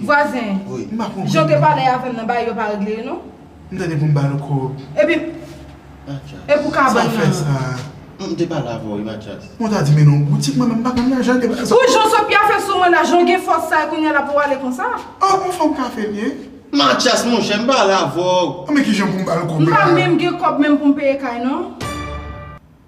Vwazen, jan w te pale avè m nan bagay yo pa regle yo non. M ta gen pou m ba l kòb. Epi, e pou kabann nan. Sa fè sa. M te pale avè w wi Matyas. Mwen ta di mennen w boutik mwen menm m pa konn nan jan de bagay sa. Pou jan Sofia fè sou mwen la, jan w gen fòs sa e kounye a la pou w ale konsa. An bon fò m ka fè l ye. Matyas monchè m pale avè w. An men ki jan pou m ba l kòb la. M pa menm gen kòb menm pou m peye kay non.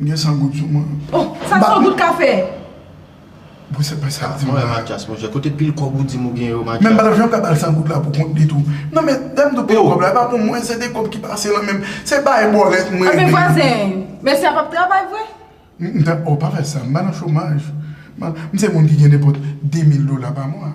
M gen 100 goud sou mwen. Oh! Sa 100 goud ka fè? Bon se pa sa l di m la. Mwen wè Matyas monchè. Kote pil kòb ou di m ou gen yo Matyas? Men m pa t ap janm ka ba l 100 goud la pou kont li tou. Non men, lè m di w pil kòb la, e pa pou mwen, se de kòb ki pase lan men m. Se bay bòlèt m regle. Anben vwazen, mesye a p ap travay vre? M ta, oh pa fè sa, m pa nan chomaj. M se moun ki gen nenpòt 2000 dola pa mwa.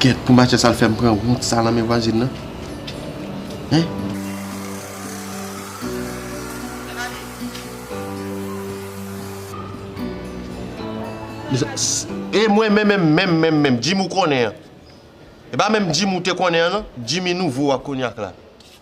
Gèt pou machann sa l fè m pran wont sa nan men vwazin nan Hein Mezanmi E mwen menm menm menm menm menm Jimmy ou konnen an E pa menm Jimmy ou te konnen an non Jimmy nouvo a konyak la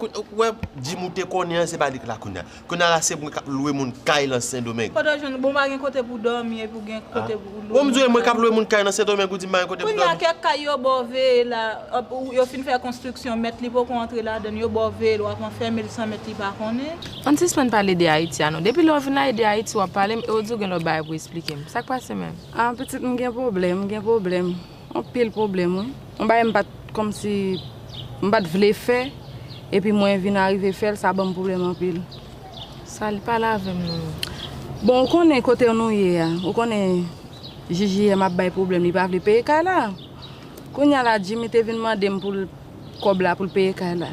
Ou wè gym ou te konnen an se pa li k la kounya. Kounya la se mwen k ap lwe moun kay lan sendomeng. Kote w jwenn bon w pa gen kote pou w dòmi epi w gen kote pou w lwe moun kay. Ou m di w e mwen k ap lwe moun kay nan sendomeng ou di m pa gen kote pou m dòmi. Kounya kèk kay yo ba w veye la, yo fin fè konstriksyon mèt li poko antre ladann yo ba w veye l w ap anfème l san mèt li pa konnen. Ann sispann pale de Ayiti a non. Depi lè w vin la e de Ayiti w ap pale m e w di w gen lòt bagay pou esplike m. Sa k pase menm? Ah pitit m gen pwoblèm, m gen pwoblèm. Anpil pwoblèm wi. Yon bagay m pat kòmsi m pat vle fè epi mwen vin arive fè l sa banm pwoblèm anpil. Salut pale avèm non. Bon ou konnen kotew nou ye a ou konnen JJM ap bay pwoblèm li pa vle peye kay la kounya la Jimmy te vin mandem poul kòb la poul peye kay la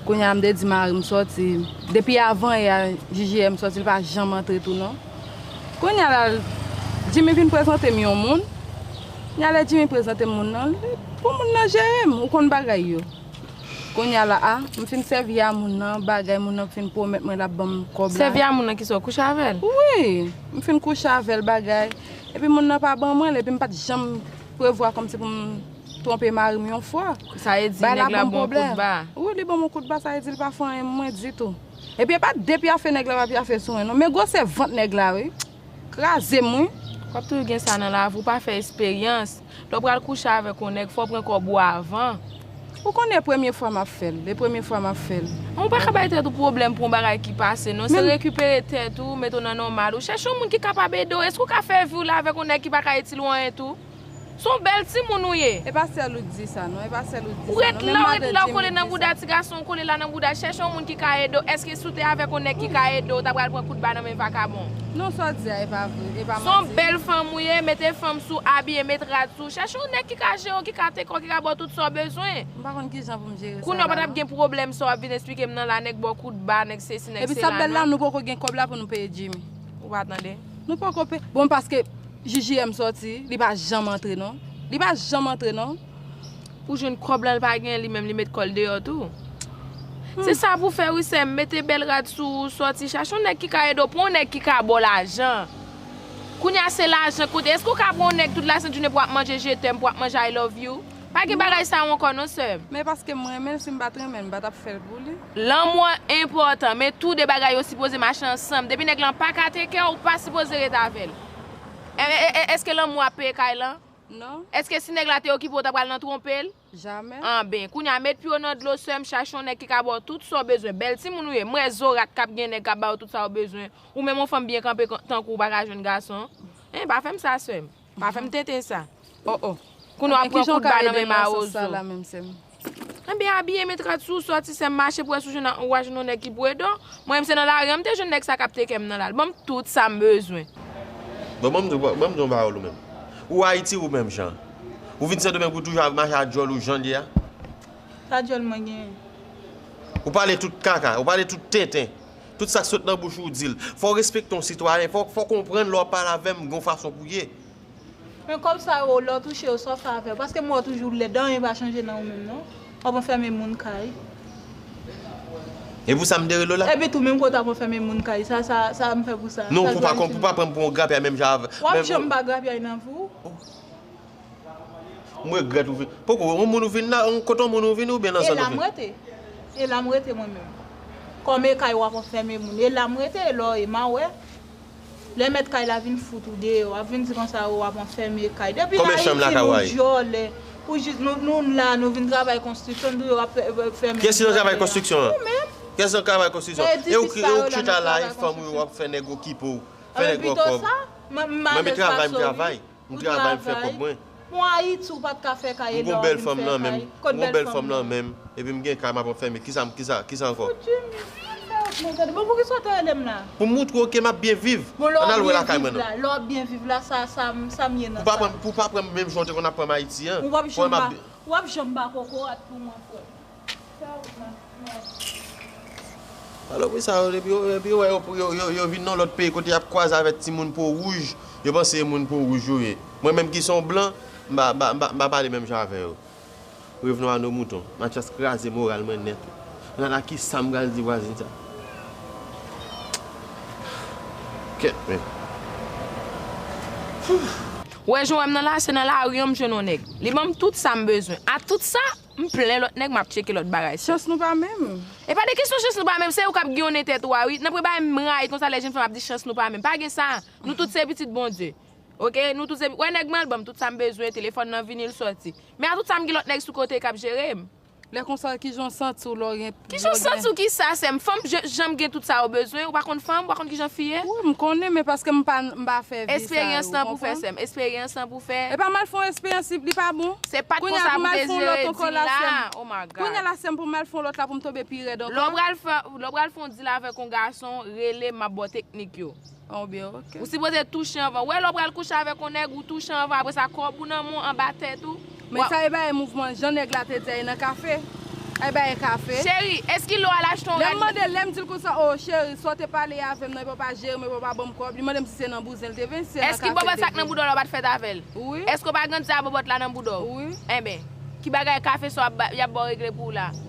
kounya m te di marim sòti depi avan yè JJM sòti li pa janm antre tou non kounya la Jimmy vin prezante m yon moun kounya lè Jimmy prezante m moun nan pou moun nan jere m ou konn bagay yo kounya la a m fin sèvi a moun nan bagay moun nan fin pwomèt mwen lap banm kòb la sèvi a moun nan ki sa ou kouche avèl wi m fin kouche avèl bagay epi moun nan pa ban mwen l epi m pat janm prevwa kòmsi pou m Twonpe marim yon fwa. Sa e di neg la bon kout ba. Wi li banm on kout ba sa e di li pa fanyen mwen ditou. Epi epa de pyafe neg la pa pyafe sou mwen non men gwosè vant neg la wi krazem wi. Wap toujou gen sa nan lavi ou pa fè esperyans lè ou pral kouche avèk on nèg fò ou pran kòb ou avan. Ou konnen e premye fwa map fèl e premye fwa map fèl. Men ou pa ka bay tèt ou pwoblèm pou on bagay ki pase non se rekipere tèt ou mete w nan nòmal ou chèche on moun ki kapab ede w eske ou ka fè vi w la avèk on nèg ki pa ka itil ou anyen tou. Son bèl timoun ou ye. E pa sèl ou k di sa non, e pa sèl ou k di sa non, menm madan Jimmy di sa. Ou ret la, ou ret la, ou kole nan bouda ti gason, ou kole la nan bouda, chèche yon moun ki ka ede w, èske si w te avèk yon nèg ki ka ede w, ou ta pral pran kout ba nan men vakabon. Non sa w di a e pa vre, e pa manti. Son bèl fanm ou ye, mete fanm sou w, abiye, met rad sou w, chèche yon nèg ki ka jere w, ki ka teke w, ki ka ba w tout sa w bezwen. M pa konn kijan pou m jere sa la non. Kounye w pa t ap gen pwoblèm sa w ap vin esplike m nan la, nèg ba w kout ba, nèg sesi, nèg sela non. Epi sa bèl la, nou poko gen kòb la pou nou peye Jimmy. Ou pa tande. Nou poko pe Bon paske JJM soti li pa janm antre non Li pa janm antre non Pou jwenn kòb la li pa gen li menm li met kòl deyò tou Se sa pou fè wi sèm mete bèl rad sou ou sòti chache yon nèg ki ka ede w pran yon nèg ki ka baw lajan Kounya se lajan kote Eske w ka pran yon nèg tout la sent jounen pou ap manje je t'aime pou ap manje I love you. Pa gen bagay sa yo ankò non sèm. Men paske m renmen l si m pat renmen l m pa tap fè l pou li. Lanmou an enpòtan, men tou de bagay yo sipoze mache ansanm, depi nèg lan pa ka tekè ou pa sipoze ret avè l. Eske lanmou ap peye kay lan? Non. Eske si nèg la te okipe w ta pral nan twonpe l? Jamè. Anben, kounya met pye w nan dlo sèm, chache yon nèg ki ka ba w tout sa w bezwen, bèl timoun ou ye, m wè zorat kap gen nèg kap ba w tout sa w bezwen, ou menm yon fanm byen kanpe tankou w pa ka jwenn gason? Hein pa fè m sa sèm. Pa fèm tenten sa. Oh oh. Kounya wap pran kout ba nan men mawozo. Ebyen abiye met rad sou ou sòti sèm mache pou wè si ou wa jwenn yon nèg ki pou ede w. Mwen menm se nan lari an m te jwenn nèg sa kap teke m nan la. L banm tout sa m bezwen. Bon banm di w yon pawòl ou menm. Ou Ayiti ou menm jan. Ou vin Sendomeng pou toujou ap mache ak djòl ou jan l ye a. Sa djòl mwen genyen. Ou pale tout kaka. Ou pale tout tenten. Tout sak sot nan bouch ou dil. Fòw respekte yon sitwayen, fòw konprann lè wap pale avèm gen yon fason pou ye. Men kòb sa yo lè w touche yo sa w fè avè yo paske m wè w toujou lèd anyen pa chanje nan ou menm non wap anfème moun kay. E pou sa m dere Lola? Epi tou menm kote wap anfème moun kay sa sa m fè pou sa. Non pou pa pran m pou yon grapyay menm jan avè. Wap janm pa grapyay nan vi w. M regrèt ou vin. Poko yon moun ou vin la, yon kote yon moun ou vin oubyen nan zòn ou vin? E la m rete. E la m rete mwen menm. Kòm e kay w ap anfème moun. E la m rete e lò e m a wè. Lè mèt kay la vin fout ou deyò. W ap vin di konsa o w ap anfème kay. Depi nan Ayiti nou dyòlè. Pou jis nou nou la nou vin travay konstriksyon nou yo ap fème moun deyò. Kiyès ki nan travay konstriksyon an? Ou menm. Kiyès nan travay konstriksyon an? E ou ki chita la e fanm ou yo ap fè nèg okipe ou. Fè nèg ou an kòb. Mwen pito sa. M alèz pa sou. Mwen m travay m travay. M travay m fè kòb mwen. M gon bèl fanm nan menm M gon bèl fanm nan menm Epi m gen kay map anfème Kisa m kisa kisa ankò Pou m moutre w ke map byen viv Ann al wè lakay mwen nan Pou w pa pran m menm jan w te konn ap pran m Ayiti an Pou w wè map byen Salopri sa yo depi yo wè yo vin nan lòt peyi kote yap kwaze avèk ti moun po wouj yo panse e moun po wouj yo ye mwen menm ki son blan m pa pale menm jan avè yo revenons à nos moutons Matyas kraze moral mwen nèt ala kisam pral di vwazin sa kèt menm. Ou wè jan ou wèm nan la se nan lari an m jwenn yon nèg li banm tout sam bezwen a tout sa. M plen lòt nèg map tcheke lòt bagay fèt. Chans nou pa menm. E pa de kesyon chans nou pa menm, se ou kap gen yon nen tèt ou a wi, nan premye bagay m rayi konsa lè jenn fanm ap di chans nou pa menm, pa gen sa, nou tout se pitit Bondye ok, nou tout se, wè nèg mwen al banm tout sa m bezwen, telefòn nan vini l sòti, men a tout sa m gen lòt nèg sou kote kap jere m. Lè konsa kijan w santi w lè w gen. Kisa ou santi ou ki sa sèm fanm janm gen tout sa yo bezwen ou pa konn fanm ou pa konn kijan fi ye. Wi m konnen men paske m pa fè vi sa yo ou konprann. Esperyans lan pou fè. Epa m al fè yon esperyans si li pa bon. Se pat konsa pou Désiré di l la oh my God. Kounya la sèm pou m al fè yon lòt la pou m tonbe pi rèd ankò. Lè w pral fè yon deal avèk yon gason rele m map ba w teknik yo. Ou sipoze touche anvan. Wè lè w pral kouche avèk yon nèg ou touche anvan apre sa kòb ou nan men w anba tèt ou. Men sa e bagay mouvman jan nèg la te di a e nan kafe. E bagay kafe. Cheri, eskilo al achte yon rad. Lè m mande l, lè m di l konsa oh cheri sa w te pale avè m nan epi w pa jere m epi w pa ban m kòb, li mande m si se nan bouzen l te vin, si se nan kafe l te vin. Èske bòbòt sa k nan bouda w la w pa t fèt avè l? Wi. Èske w pa grandi avè bòbòt la nan bouda w? Wi. Enben, ki bagay kafe sa w y ap ba w regle pou w la a?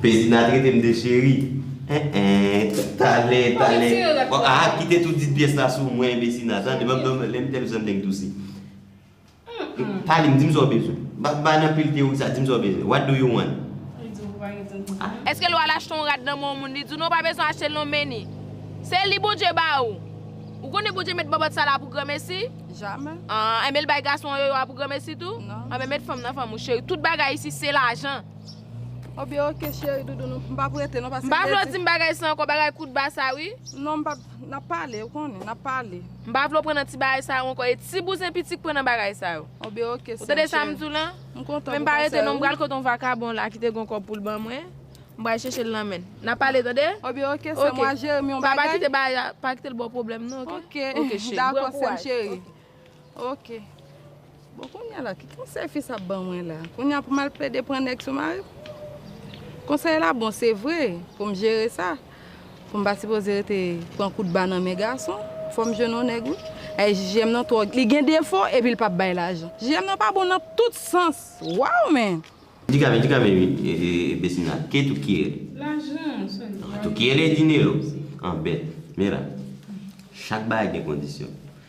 Pezina trete m de cheri. Eh eh talè talè bon aa kite tout dit pyès la sou mwen Pezina tande banm non lèm tèl bzwen nèg douse Palim dim sa w bezwen Mpa bann anpil teyori konsa dim sa w bezwen What do you want? Li di w pa gen tan pou sa. Eske lè w al achte yon rad nan men yon moun li di w non w pa bezwen achte l non Meni Se li Bondye ba ou Ou konnen Bondye met bòbòt sa la pou granmesi? Jamè. Aa enben l bay gason an yoyo a pou granmesi tou? Non. Anben met fanm nan fanm ou cheri tout bagay isi se lajan. Oh byen ok cheri doudoune m pap rete non paske. M pa vle w di m bagay sa ankò bagay kout ba sa wi. Non m pap nap pale ou konnen nap pale. M pa vle w pran nan ti bagay sa yo ankò e ti bouzen piti k pran nan bagay sa yo. Oh byen ok sèm cheri. Ou tande sa m di w lan? M kontan pou konsèy ou. Men m pa rete non m pral kote yon vakabon la ki te gen yon kòb pou l ban mwen. M pral chèche l nan men. Nap pale tande. Oh byen ok sèm wap jere m yon bagay. Pa kite bagay la pa kite l ba w pwoblèm non ok. Ok cheri. Dako sèm cheri. Ok Bon kounya la ki konsèy fi sa ap ban mwen la Kounya pou m al plede pran nèg sou mari m Konsèy la bon se vre pou m jere sa Pou m pa sipoze rete pran kout ba nan men gason Fò m jwenn yon nèg wi Ay jiji m nan twò li gen defo epi l pa bay lajan Jiji m nan pa bon nan tout sans Waww men Di kame di kame Besina ke tout ki rèl Lajan Tout ki rèl e dinero An bèt Men la Chak bagay gen kondisyon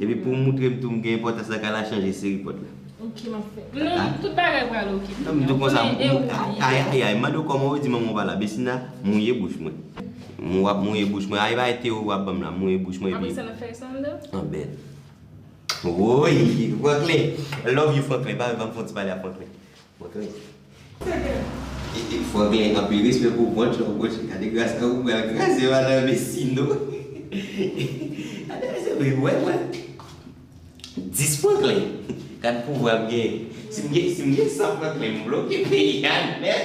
Epi pou moutre m tou m gen enpòtans la kay la chanje seri pòt la. Ok map fè. Nan tout bagay pral ok. Nan m tou konsa m ayayay mande w kòman ou di manman w pa la Besina mouye bouch mwen. M wap mouye bouch mwen ay bay Théo wap banm la mouye bouch mwen epi. Apre sa nan fè sa andan. Anbèt. Woyy Franklin love you Franklin pa banm fon ti pale ak Franklin. Epi fwa gen anpil respè pou brunch la brunch gade gras la ou pral kraze madan vecino gade se vre wè wè 10 franklin gad pouvwa m gen si m gen si m gen 100 franklin m bloke peyi a nèt.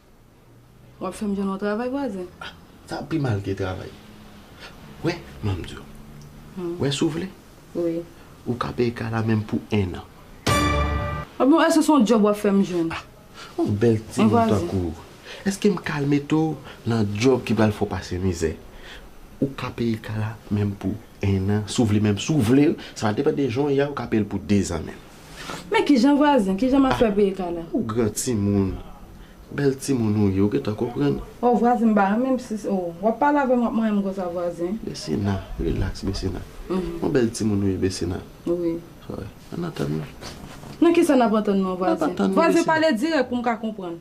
Wap fèm jwenn yon travay vwazen. Ah sa pi mal ke travay. Wè map diw. Wè si w vle. Wi. Ou ka peye kay la menm pou 1 an. Ah bon eske son job wap fèm jwenn. Ah yon bèl timoun tankou w. Eske m kal mete w nan job ki pral fè w pase mizè. Ou ka peye kay la menm pou 1 an si w vle menm si w vle sa depan de jan w ye a ou ka peye l pou 2 zan menm. Men kijan vwazen, kijan map fè pou ekal la. Ou gran timoun, bèl timoun ou ye ou gentan konprann. Oh vwazen m pa renmenm si se ou. Wap pale avèm wap manyenm konsa vwazen. Besina, relax Besina. Ou bèl timoun ou ye Besina. Wi. Ann antann nou. Nan kisa nap antann nou an vwazen? Nap antann nou Besina. Vwazen pale dirèk poum ka konprann.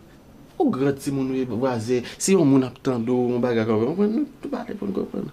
Ou gran timoun ou ye vwazen, si yon moun ap tande w yon bagay konprann, nou pale poun konprann.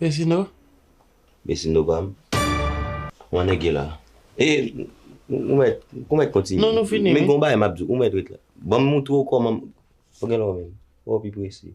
Besino? Besino pa m? Ou an nèg la? E, ou mèt, ou mèt kontinye. Non, nou fini. Men gon bagay m ap di w, ou mèt ret la. Ban m montre w kòman m. Ou gen lò menm. Ou pi prese.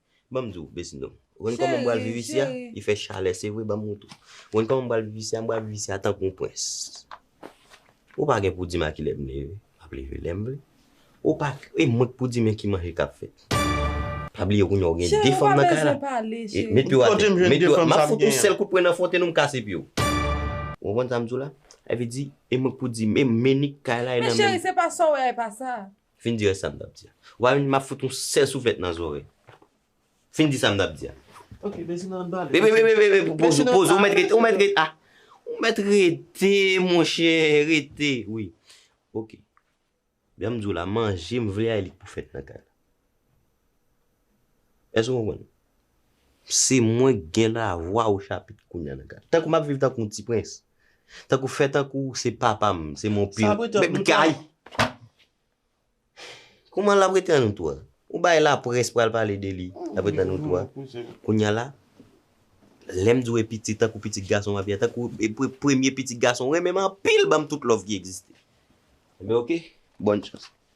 Banm diw besnno ou konn koman m pral viv isi a li fè chalè se vre banm montre ou konn koman m pral viv isi a m pral viv isi a tankou yon pwens ou pa gen pou dim a kilè m leve map leve lèm vle ou pa e mwen k pou di men ki manje kap fèt pa bliye kounye a ou gen 2 fanm nan kay la met pye w atè met pye w atè map fout yon sèl kout pwen nan fwonten ou m kase pye w ou konprann sa m diw la sa vle di e mwen k pou di men menik kay la e nan menm. Men cheri se pa sa w wè a e pa sa. Fin di rès sa m t ap di a. Wa vin di m ap fout ou sèl souflèt nan zòrèy. Fin di sa m t ap di a. Ok, Bèsino an n pale. Wi, wi, wi, wi, wi, poze, poze, ou mèt rete, ou mèt rete, a, ou mèt rete monchè, rete, wi. Ok. Jan m di w la, manje m vle a e li k pou fèt nan kay la. Èske w konprann? Se mwen k gen lavwa o chapit kounya nan ka. Tankou m ap viv tankou yon ti prens. Tankou fè tankou se papa m, se mon père. Sa prete an nou twa? Kouman l ap rete an nou twa? Ou bay laprès pral pale de li, l ap rete an nou twa? Kounya la, lè m di w e piti tankou pitit gason m ap ye a, tankou e premye pitit gason, renmen m anpil ban m tout love ki egziste. Enben ok, bòn chans.